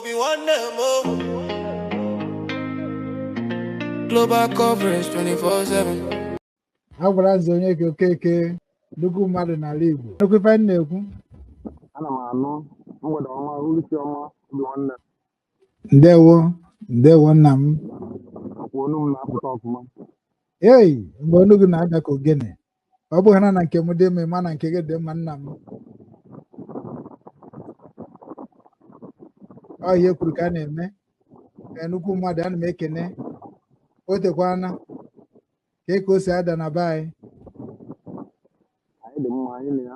Obinwannem o. Global coverage 24/7. Agbalanze Onyeka Okeke nnukwu mmadụ n'ala igbo ị nụkwa ife m na-ekwu ana m anụ mgbede ọma uruchi ọma Obinwannem ndewo ndewo nna m ọkwa onu m na-apụta ọfụma ei mgbe onu gị na-ada ka ogene ọ bụrụ na na nke m dị mma ị ma na nke gị dị mma nna m ọ ihe e kwuru ka a na-eme Ee, nnukwu mmadụ ana m ekene o tekwana kee ka o si ada na be anyị anyị dị mma anyị na ya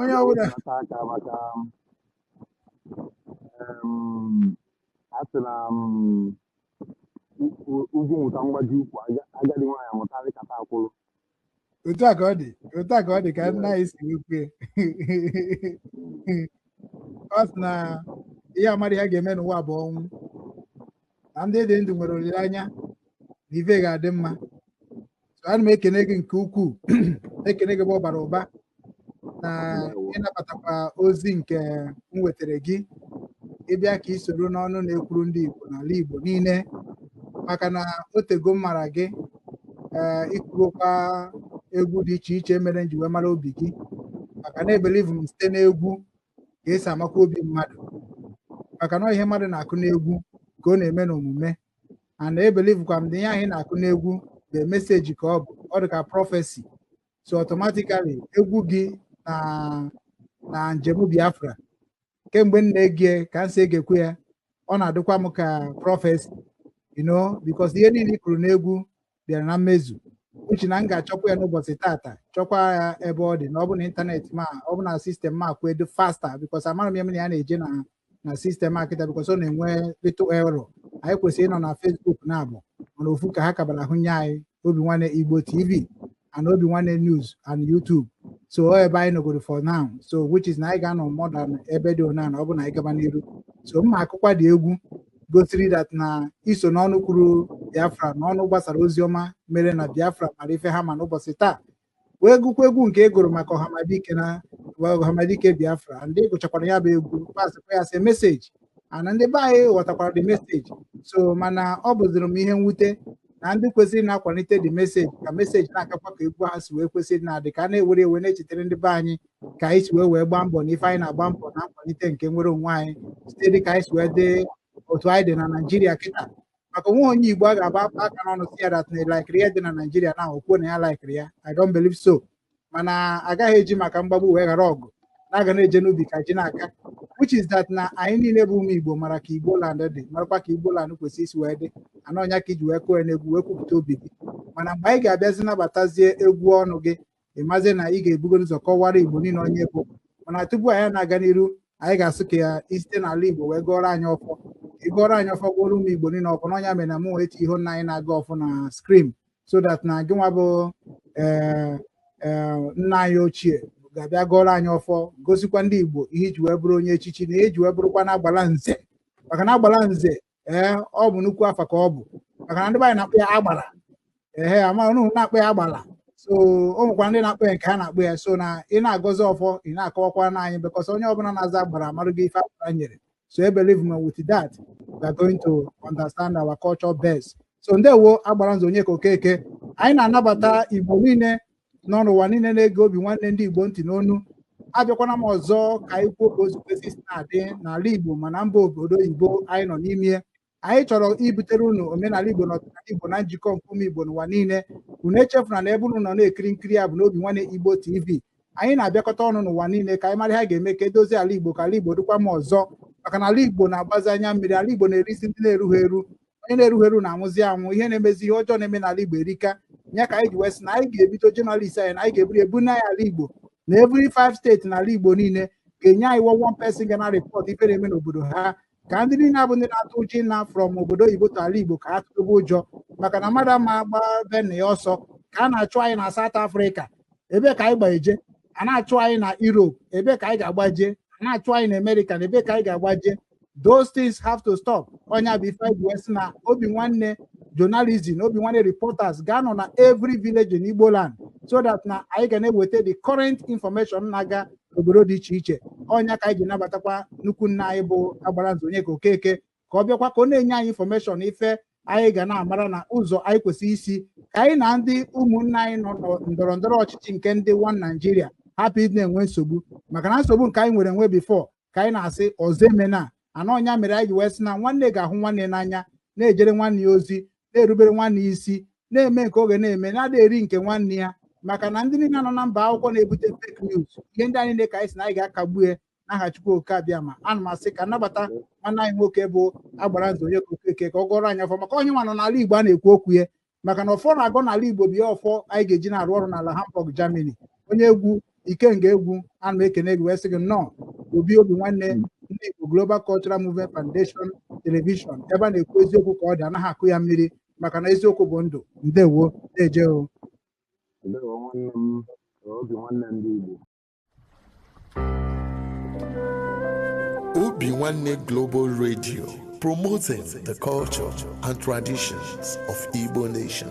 onye ọbụla aka maka a sị na ugwu nwụta mgbaji ukwu agadi nwaanyị amụta arịkata akwụrụ otu a ka ọ dị otu a ka ọ dị ka nna anyị si wee kwue ọ sị na ihe amadị ihe a ga-eme n'ụwa bụ ọnwụ na ndị dị ndụ nwere olileanya na ife ga-adị mma So, ana m ekene gị nke ukwuu ekene gị bụ ọbara ụba na ịnabatakwa ozi nke m wetara gị ịbịa ka ị soro n'ọnụ na-ekwuru ndị Igbo n'ala Igbo niile maka na otego m mara gị ee ịkụrụkwa egwu dị iche iche mere m ji wee mara obi gị maka na ebelivu m site n'egwu ka esi amakwa obi mmadụ maka na ọ ihe mmadụ na-akụ n'egwu ka ọ na-eme n'omume and ebelivukwa m na ihe anyị na-akụ n'egwu bụ message ka ọ bụ ọ dị ka prophecy so automatically egwu gị na na njem Biafra kemgbe m na-ege ka m si egekwu ya ọ na-adịkwa m ka prophecy you know because ihe niile ị kụrụ n'egwu bịara na mmezu which is na m ga-achọkwa ya n'ụbọchị tata chọkwa ya ebe ọ dị na ọ bụ na ịntanetị ma ọ bụ na system ma kwụ edu faster because amara m ya na ya na-eje na na system akịta because ọ na-enwe little error anyị kwesịrị ịnọ na Facebook naabọ mana ofu ka ha kabara ahụ nye anyị Obinwannem Igbo TV and Obinwannem News and YouTube so ọ ebe anyị nọgoro for now so which is na anyị ga-anọ more than ebe dị ona na ọ bụ na anyị gaba n'iru so m ma-akụkwa the egwu gosiri that na i so n'ọnụ kwuru Biafra na ọnụ gbasara ozi ọma mere na Biafra mara ife ha ma n'ụbọchị taa wee gụkwa egwu nke ị e gụrụ maka ọhamadike na ọhamadike Biafra and ị gụchakwara ya bụ egwu pasịkwa ya as message and ndị be anyị ghọtakwara the message so mana ọ bụziri m ihe mwute na ndị kwesịrị na-akwalite the message ka message na-agakwa ka egwu ha si wee kwesịrị na-adị ka a na-ewere ewe na-echetere ndị be anyị ka anyị si wee wee gbaa mbọ na ife anyị na-agba mbọ na nkwalite nke nnwere onwe anyị site dị ka anyị si wee dị otu anyị dị na naijiria kịta maka o nwee onye igbo a ga-agba aka n'ọnụ sị ya that na likeiri ya dị na naijiria na o kwuo na ya likeiri ya i don't believe so mana a gaghị eji maka mgbagbu wee ghara ọgụ na-aga na-eje n'ubi ka ji na-aga which is that na anyị niile bụ ụmụ igbo mara ka igbo land dị marakwa ka igbo land kwesịrị isi wee dị and ọ nya ka i ji wee kụọ ya n'egwu wee kwupụta obi gị mana mgbe anyị ga-abịazi nabatazie egwu ọnụ gị ị mazie na ị ga-ebugo ụzọ kọwara igbo niile onye ị bụ mana tupu anyị na-aga n'iru anyị ga-asị ka i site n'ala igbo wee gọọrọ anyị ọfọ ị gọọrọ anyị ọfọ gọọrọ ụmụ igbo niile ọfọ na ọ nya mere na m wee chee ihu nna anyị na-agọ ọfọ na screen so that na gị nwa bụ ee ee nna anyị ochie ga-abịa gọọrọ anyị ọfọ gosikwa ndị igbo ihe i ji wee bụrụ onye echichi na ihe i ji wee bụrụkwa na agbala nze maka na agbala nze ee ọ bụ nnukwu afa ka ọ bụ maka na ndị be anyị na-akpọ ya agbara ehe ama unu na-akpọ ya agbala so o nwekwara ndị na-akpọ ya nke ha na-akpọ ya so na ị na-agọzi ọfọ ị na-akọwakwa na anyị because onye ọbụla na-aza agbara amarụ gị ife agbara nyere so believe me with that we are going to understand our culture best so ndewo agbara nze onyeka okeke anyị na-anabata igbo niile nọ n'ụwa niile na-ege obi nwanne ndị Igbo ntị nnọọnụ abịakwana m ọzọ ka anyị kwuo ka o si kwesị isi na-adị n'ala Igbo ma na mba obodo oyibo anyị nọ n'ime anyị chọrọ ibutere unu omenala Igbo na ọdịnala Igbo na njikọ nke ụmụ Igbo n'ụwa niile unu echefuna na ebe unu nọ na-ekiri nkiri a bụ n'obi nwanne Igbo TV anyị na-abịakọta ọnụ n'ụwa niile ka anyị mara ihe a ga-eme ka e dozie ala Igbo ka ala Igbo dịkwa mma ọzọ maka na ala Igbo na-agbazi anya mmiri ala Igbo na-erisi ndị na-erughị eru onye na-erughị eru na-anwụzi anwụ ihe na-emezi ihe ọjọọ na-eme n'ala Igbo erika ya ka anyị ji wee sị na anyị ga-ebido journalist anyị na anyị ga-eburu ebu na ya ala Igbo na every five state n'ala Igbo niile ga-enye anyị one one person ga na report ife na-eme n'obodo ha ka ndị niile a bụ ndị na-atụ ụjọ ịna from obodo oyibo to ala Igbo ka ha tụrụba ụjọ maka na mmadụ ama agba be nna ya ọsọ ka a na-achụ anyị na South Africa ebee ka anyị ga-agbaje a na-achụ anyị na Europe ebee ka anyị ga-agbaje a na-achụ anyị na America na ebee ka anyị ga-agbaje those things have to stop ọ nya bụ ife e ji wee sị na obi nwanne journalism obi nwanne reporters ga-anọ na every village in Igbo land so that na anyị ga na-eweta the current information na-aga obodo dị iche iche ọ nya ka anyị ji nabatakwa nnukwu nna anyị bụ agbara nze Onyeka Okeke ka ọ bịakwa ka ọ na-enye anyị information ife anyị ga na-amara na ụzọ anyị kwesịrị isi ka anyị na ndị ụmụnna anyị nọ na ndọrọ ndọrọ ọchịchị nke ndị one Nigeria hapụ ịdị na-enwe nsogbu maka na nsogbu nke anyị nwere enwe before ka anyị na-asị ọzọ emena and ọ nya mere anyị ji wee sị na nwanne ga-ahụ nwanne n'anya na-ejere nwanne ya ozi na-erubere nwanne ya isi na-eme nke ọ ga na-eme na a da-eri nke nwanne ya maka na ndị niile nọ na mba akwụkwọ na-ebute fake news ihe ndị a niile ka anyị sị na anyị ga-akagbu ya n'aha Chukwu Oke Abiama ana m asị ka m nabata nwanne anyị nwoke bụ agbara nze Onyeka Okeke ka ọ gọọrọ anyị ọfọ maka ọ nya nwa nọ n'ala Igbo a na-ekwu okwu ya maka na ọfọ na-agọ n'ala Igbo bụ ya ọfọ anyị ga-eji na-arụ ọrụ n'ala Hamburg Germany onye egwu ikenga egwu ana m ekene gị wee sị gị nnọọ obi obi nwanne ndị Igbo Global Cultural Movement Foundation Television ebe a na-ekwu eziokwu ka ọ dị anaghị akụ ya mmiri maka na eziokwu bụ ndụ ndewo na-eje o ndewo nwanne m obi nwanne ndị Igbo Obi Nwanne Global Radio, promoting the culture and traditions of Igbo Nation.